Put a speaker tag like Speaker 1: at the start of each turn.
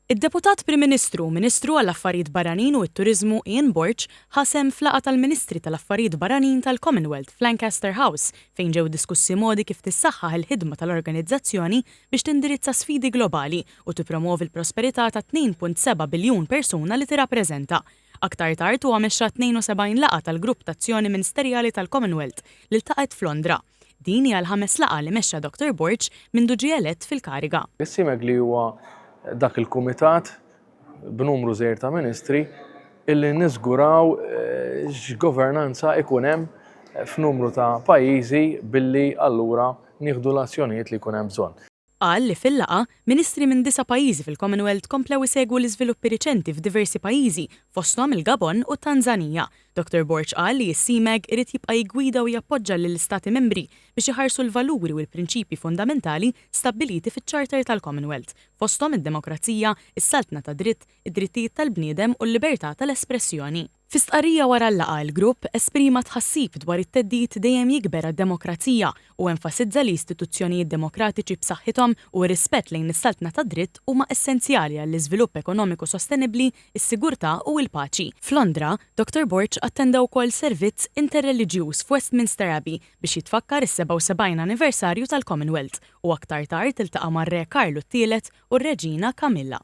Speaker 1: Id-Deputat Prim Ministru u Ministru għall-Affarijiet Barranin u t-Turiżmu Ian Borg ħa sehem f'laqgħa tal-Ministri tal-Affarijiet Barranin tal-Commonwealth f'Lancaster House fejn ġew diskussi modi kif tissaħħaħ il-ħidma tal-organizzazzjoni biex tindirizza sfidi globali u tippromwovi l-prosperità tat-2.7 biljun persuna li tirrappreżenta. Aktar tard huwa mexxa 72 laqgħa tal-Grupp t'Azzjoni Ministerjali tal-Commonwealth li ltaqgħet f'Londra. Din hija l-ħames laqgħa li mexxa Dottor Borg mindu ġie elett fil-kariga. Is-CIMEG li huwa
Speaker 2: dak il-kumitat b'numru żgħir ta' ministri illi niżguraw x'governanza jkun hemm f'numru ta' pajjiżi billi allura nieħdu l-azzjonijiet li jkun hemm bżonn. Qal li fil-laqgħa,
Speaker 1: Ministri minn disa' pajjiżi fil-Commonwealth komplew isegwu l-iżviluppi riċenti f'diversi pajjiżi, fosthom il-Gabon u t-Tanżanija. Dottor Borg qal li s-CMAG irid jibqa' jiggwida u jappoġġa lill-Istati Membri biex iħarsu l-valuri u l-prinċipji fundamentali stabbiliti fiċ-Charter tal-Commonwealth, fosthom id-demokrazija, is-saltna tad-dritt, id-drittijiet tal-bniedem u l-libertà tal-espressjoni. Fi stqarrija wara l-laqgħa l-grupp esprima tħassib dwar it-theddid dejjem jikber għad-demokrazija u enfasizza li istituzzjonijiet demokratiċi b'saħħithom u r-rispett lejn is-saltna tad-dritt huma essenzjali għall-iżvilupp ekonomiku sostenibbli, is-sigurtà u l-paċi. F'Londra, Dottor Borg attenda wkoll servizz interreliġjuż f'Westminster Abbey biex jitfakkar is-77 anniversarju tal-Commonwealth u aktar tard iltaqa' mar-Re Karlu t-Tielet u r-Reġina Camilla.